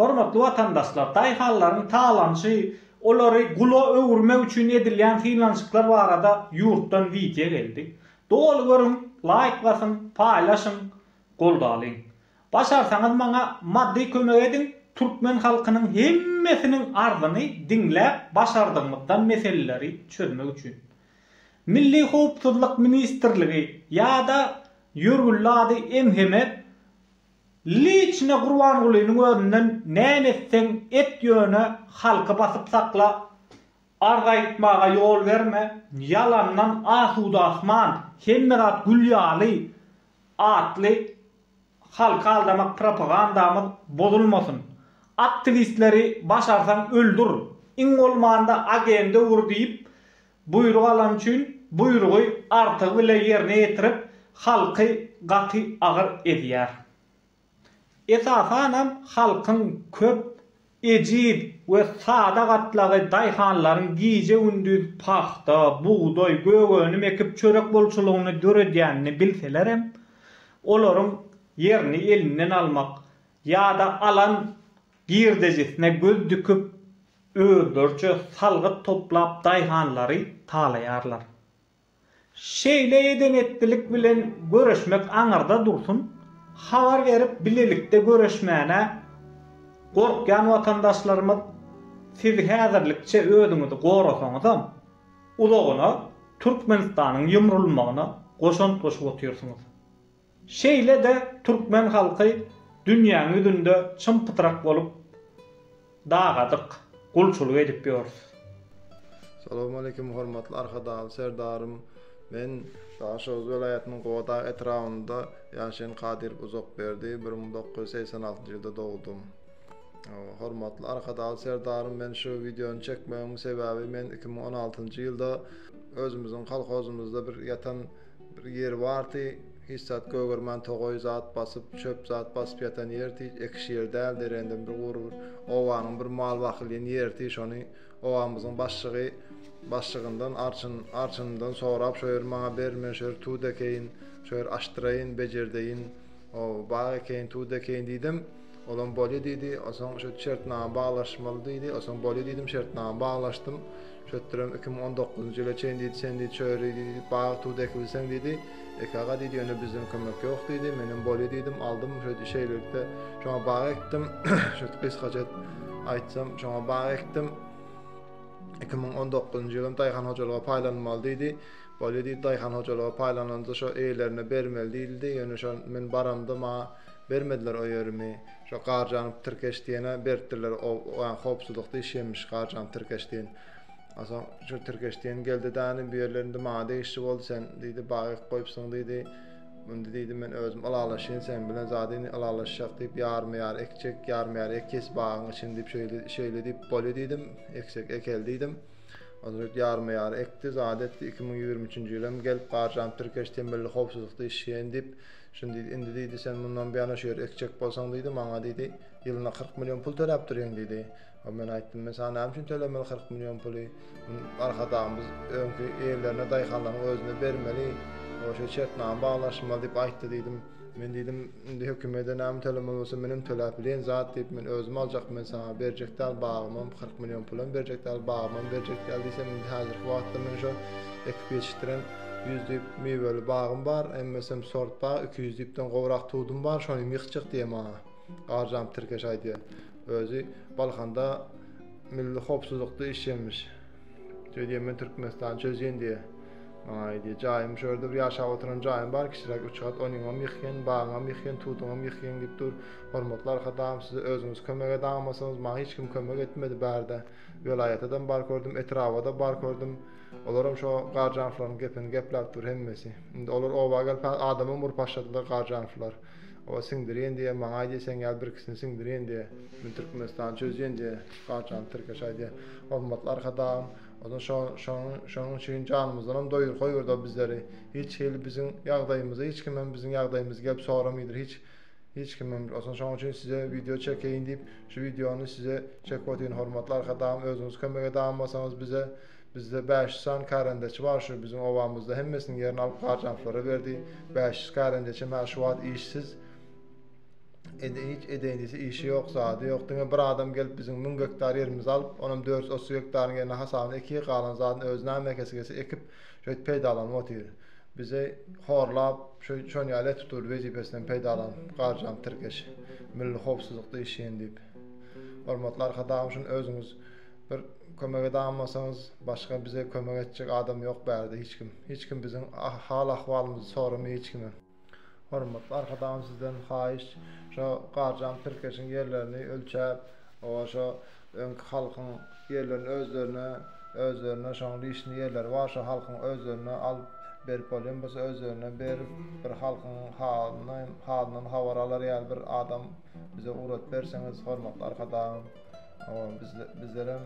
Hormatly watandaşlar, daýhanlaryň talaňçy, olary gula öwürmek üçin edilýän synanyşyklar barada ýurtdan wideo geldi. Doly görüň, laýk basyň, paýlaşyň, goldalyň. Başarsaňyz maňa maddy kömek ediň, türkmen halkynyň hemmesiniň arzyny diňläp başardygymyzdan meseleleri çözmek üçin. Milli howpsuzlyk ministrligi ýa-da ýörgünli ady MHM Liçne Gurbangulynyň özünden näme etseň et ýöne halky basyp sakla, arz aýtmaga ýol berme, ýalandan asuda asman, hemme zat gül ýaly atly halky aldamak propagandamyz bozulmasyn. Aktiwistleri başarsaň öldür, iň bolmanda agende ur diýip Buýruk alany üçin buýrugy artygy bile ýerine ýetirip, halky gaty agyr ezýär. Esasanam halkyň köp, ejiz we sada gatlagy daýhanlaryň gije-gündiz pagta, bugdaý, gögönüm ekip çörek bolçulygyny döredýänini bilselerem, olaryň ýerini elinden almak ýa-da alan girdejisine göz dikip, özleriçe salgyt toplap daýhanlary talaýarlar. Şeýle eden-etdilik bilen göreşmek aňyrda dursun, habar berip bilelikde göreşmäne gorkýan watandaşlarymyz siz häzirlikçe özüňizi gorasaňyzam, uzagyna Türkmenistanyň ýumrulmagyna goşant goşup otyrsyňyz. Şeýle-de türkmen halky dünýäň ýüzünde çym-pytrak bolup dagadyk gulçulyk edip ýörüs. Salowmaleýkim hormatly Arkadagly Serdarym men Daşoguz welaýatynyň Gowadag etrabynda ýaşaýan Kadyrow Uzakberdi bir müň dokuz ýüz segsen altynjy ýylda dogdum hormatly Arkadagly Serdarym men şu wideony çekmegimiň sebäbi men iki müň on altynjy ýylda özümiziň kolhozymyzda bir ýatan Bir ýeri bardy, hiç zat gögermän togaý zat basyp, çöp zat basyp ýatan ýerdi, ekiş ýeri däldi, rendem bir gury bir obanyň bir mal bakylýan ýeridi, şony obamyzyň başlygy başlygyndan arçyn, arçynyndan sorap, şo ýeri maňa ber, men şo ýeri tut ekeýin, şo ýeri açdyraýyn, bejerdeýin, o, bag ekeýin, tut ekeýin diýdim. Olam bolýa diýdi. Onsoň şo şertnama baglaşmaly diýdi. Onsoň bolýa diýdim, şertnama baglaşdym. Şötdürem iki müň on dokuzynjy ýyla çenli diýdi, sen diýdi çöri diýdi, bag tudy ekibilseň diýdi. Eki aga diýdi, ýöne bizden kömek ýok diýdi. Menem bolýa diýdim, aldym. Şo şeýlelikde şoňa bag ekdim. Şo gysgaça edip aýtsam, şoňa bag ekdim. Iki müň on dokuzynjy ýylam daýhan hojalyga paýlanmaly diýdi. Bolýa diýdi, daýhan hojalyga paýlananda şo eýelerine bermeli diýildi. Ýöne şo men baramda maňa Bermediler o ýerimi. Şo garjanyp tirkeş diýene beripdirler o howpsuzlykda iş imiş garjanyp tirkeş diýen. Onsoň şu tirkeş diýen geldi dany bu ýerler indi maňa degişli boldy sen diýdi bagy goýupsyň diýdi. Indi diýdi men özüm ylalaşýyn sen bilen zat indi ylalaşjak diýip ýarma ýar ekjek ýarma ýar ekýäs bagyň içini diýip şeýle şeýle diýip bolýa diýdim eksek ekel diýdim. Onsoň şeýdip ýarma ýar ekdi zat etdi iki müň ýigrimi üçünji ýyl hem gelip garjanyp tirkeş temelli howpsuzlykda işleýän diýip Şuny diýdi, Indi diýdi, sen mundan beýana şu ýeri ekjek bolsaň diýdi, maňa diýdi, ýylyna kyrk million pul töläp durýaň diýdi. Men aýtdym, Men saňa näme üçin tölemeli kyrk million puly? Muny Arkadagymyz öňki eýelerine, daýhanlaryň özüne bermeli. Şeýle şertnama baglaşylmaly diýip aýtdy diýdim. Men diýdim, Indi hökümete näme tölemeli bolsa, men hem töläp bileýin zat diýip, men özüm aljak, men saňa berjek däl, bagymam kyrk million pul hem berjek däl, bagymam berjek däl diýsem, indi häzirki wagtda men şo ekip ýetişdiren Ýüz düýp miweli bagym bar, emmesem sort bag, iki ýüz düýpden gowrak tudum bar, şonuň ýyh çyh diýýär maňa. Garjam tirkeş aýdýar. Özi Balkanda milli howpsuzlykda işleýänmiş. Şeýle diýýär, Men Türkmenistany çözýän diýýär. Maňa aýdýar, jaýym şu ýerde bir ýaşap oturan jaýym bar, kiçiräk üç gat, onyňam ýyh geň, bagyňam ýyh geň, tuduňam ýyh geň diýip dur. Hormatly Arkadagym, size özüňiz kömek edaňmasaňyz, maňa hiç kim kömek etmedi, bärde welaýata-dam bar kördüm, etraba-da bar kördüm. Olaram şo Garjanowlaryň gepini gepläp dur hemmesi. Indi olar oba gelip häzir adamam urup başladylar Garjanowlar. Oba siňdirýän diýýär, maňa aýdýar seň ýaly birkisini siňdirýän diýýär. Men Türkmenistany çözýän diýýär. Garjanow tirkeş aýdýar. Hormatly Arkadagym, ozal şo şoň şoň üçin janymyzdanam doýur goýberdi o bizleri. Hiç hili biziň ýagdaýymyzy hiç kimem biziň ýagdaýymyzy gelip soramaýdyr hiç hiç kimem. Ozal şoň üçin size wideo çekeýin diýip şu wideony size çekip otyryn hormatly Arkadagym özüňiz kömek edäm bolsaňyz bize. Bizde bäş ýüz sany kärendeçi bar, şu biziň obamyzda hemmesiniň ýerini alyp Garjanowylara berdi. Bäş ýüz kärendeçem hä şu wagt işsiz. Indi hiç edeýnisi işi ýok, zady ýok. Diňe bir adam gelip biziň müň gektar ýerimizi alyp, onam dört ýüz otuz gektaryň ýerine hasabyna eki, galan zadyny özi näme ekesi gelse ekip, şeýdip peýdalanyp otyr. Bizi horlap, şo şony ýaly etip durdy, wezipesinden peýdalanyp, Garjanow tirkeş. Milli howpsuzlykda işleýin diýip. Hormatly Arkadagymyz şuny özüňiz Bir kömek edan bolsaňyz başga bize kömek etjek adam ýok bärde hiç kim. Hiç kim biziň hal ahwalymyzy soramaý hiç kime. Hormatly arkadagym sizden haýyş şo garjan tirkeşiň ýerlerini ölçäp oba şo öňki halkyň ýerlerini özlerine özlerine şoň lişni ýerleri bar şo halkyň özlerine alyp berip bolýan bolsa özlerine berip bir halkyň halyny halyndan habar alar ýaly bir adam bize ugrat berseňiz hormatly arkadagym. Oba bizlerem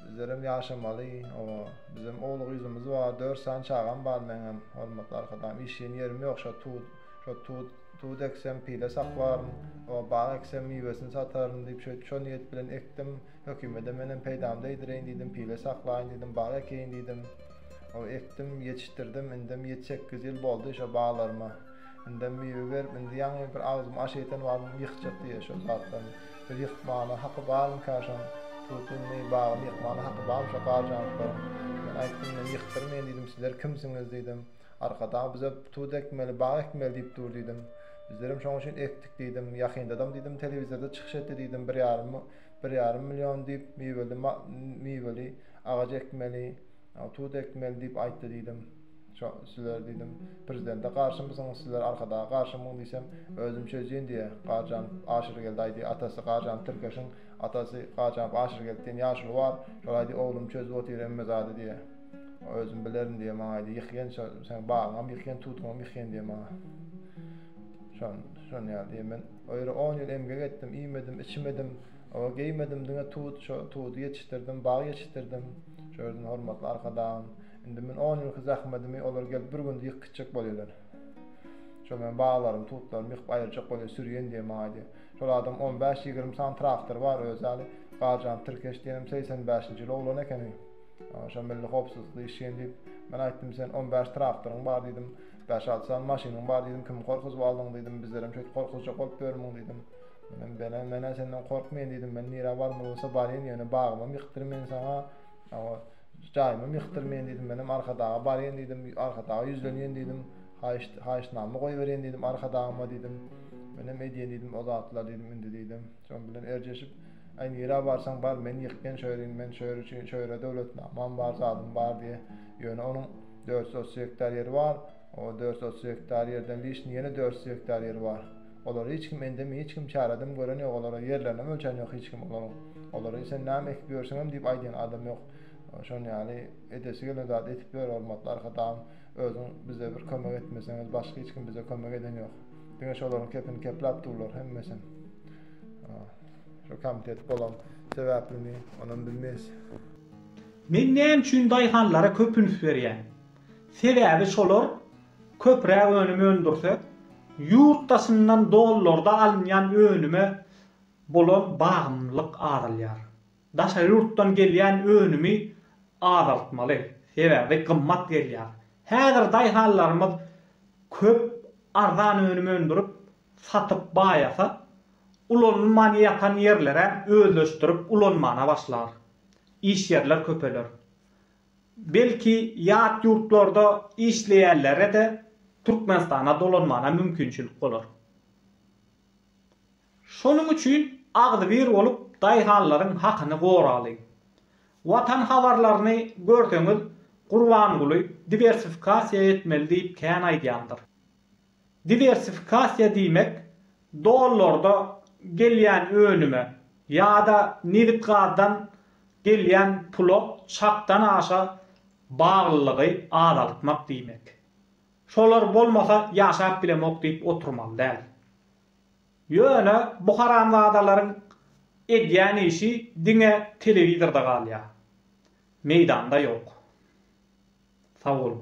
bizlerem ýaşamaly. Oba bizem ogly gyzymyz bar, 4 sany çagam bar meňem. Hormatly arkadagym, işleýän ýerim ýok. Şo tut, şo tut, tut eksem pile saklaryn. Oba bag eksem miwesini sataryn diýip şeýdip şo niýet bilen ekdim. Hökümede menem peýdamy degdireýin diýdim, pile saklaýyn diýdim, bag ekeýin diýdim. Oba ekdim, ýetişdirdim. Indem ýedi-sekiz ýyl boldy şo baglaryma. Indem miwe berip, indi ýaňy bir agzym aş ýeten wagtym ýykjak diýýä şol zatdan. Biz ýykmana haky barmyka şoň? Tut indi, bagyny ýykmana haky barmy şo garjanlyklaryň? Men aýtdym, men ýykdyrmaýyn diýdim, sizler kimsiňiz diýdim. Arkadag bize tut ekmeli, bag ekmeli diýip dur diýdim. Bizlerem şoň üçin ekdik diýdim. Ýakyndadam diýdim telewizorda çykyş etdi diýdim, bir ýarym, bir ýarym million diýip miweli, miweli agaç ekmeli, tut ekmeli diýip aýtdy diýdim. Şo sizler diýdim. Prezidente garşymysyňyz sizler arkadaga garşymyň diýsem özüm çözýän diýýä. Garjanow Aşyrgeldi aýdy atasy Garjanow tirkeşiň atasy Garjanow Aşyrgeldi diýen ýaşuly bar. Şol aýdy oglum çözüp otyr hemme zady diýýä. Özüm bilerin diýýä maňa aýdy ýykýan şo seň bagyňam ýykýan tutgyňam ýykýan diýýä maňa. Şon şon ýaly diýýä men o ýere on ýyl emgek etdim iýmedim içmedim oba geýmedim diňe tut şo tudy ýetişdirdim bag ýetişdirdim şo ýerden hormatly arkadagym Indi men on ýylky zähmetimi olar gelip bir günde ýykyp gitjek bolýarlar. Şol meniň baglarymy, tutlarymy ýykyp aýyrjak bolýar, sürýen diýen maňa diýýär. Şol adam on bäş, ýigrimi sany traktory bar özi ýaly. Garjant Tirkeş diýenem segsen bäşinji ýyl oglan ekeni. Şol milli howpsuzlykda işleýän diýip, men aýtdym, sen on bäş traktoryň bar diýdim, bäş-alty sany maşynyň bar diýdim, kimi gorkuzyp aldyň diýdim, bizlerem şeýdip gorkuzjak bolup ýörmüň diýdim. Men-ä, men-ä senden gorkmaýan diýdim, men nirä barmaly bolsa barýan, ýöne bagymam ýykdyryn men saňa. Hawa, jaýymam ýykdyr men diýdim. Menem Arkadaga barýan diýdim. Arkadaga ýüzlenýän diýdim. Haýyşt, haýyştnama goýberýän diýdim Arkadagyma diýdim. Menem edýän diýdim o zatlary diýdim indi diýdim. Şoň bilen erjeşip, Aý, nirä barsaň bar, men ýykýan şu ýerin, men şu ýer üçin, şu ýere döwletnamam bar, zadym bar diýýä. Ýöne onuň dört ýüz otuz gektar ýeri bar. O dört otuz gektar ýerden wiçni ýene dört ýüz gektar ýeri bar. Olary hiç kim endem hiç kim çaradym gören ýok olara ýerlerinem ölçän ýok hiç kim olaryň. Olary sen näme ekip ýörseňem diýip aýdýan adam ýok. Şon ýaly edesi gelen zady edip ýör hormatly arkadagym özüň bize bir kömek etmeseňiz başga hiç kim bize kömek eden ýok. Diňe şolaryň kepini kepläp durlar hemmesem. Şu komitet bolan sebäplimi onam bilmeýs. Men näme üçin daýhanlara köp üns berýän? Sebäbi şolar köpräk önüm öndürse, ýurt daşyndan dollarda alynýan önüme bolan bagymlylyk azalýar. Daşary ýurtdan gelýän önümi azaltmaly, sebäbi gymmat gelýär. Häzir daýhanlarymyz köp arzan önüm öndürip, satyp baýasa, ulanylman ýatan ýerleräm özleşdirip ulanmana başlar. Iş ýerler köpeler. Belki ýat ýurtlarda işleýänlere-de Türkmenistana dolanmana mümkinçilik bolar. Şonuň üçin agzybir bolup daýhanlaryň hakyny goralyň. Watan habarlaryny görseňiz Gurbanguly diwersifikasiýa etmeli diýip kän aýdýandyr. Diwersifikasiýa diýmek, dollarda gelýän önüme ýa-da nebit-gazdan gelýän pula çakdan aşa baglylygy azaltmak diýmek. Şolar bolmasa ýaşap bilemok diýip oturmaly däl. Ýöne bu haramzadalaryň edýän işi diňe telewizorda galýar. Meýdanda ýok. Sag boluň.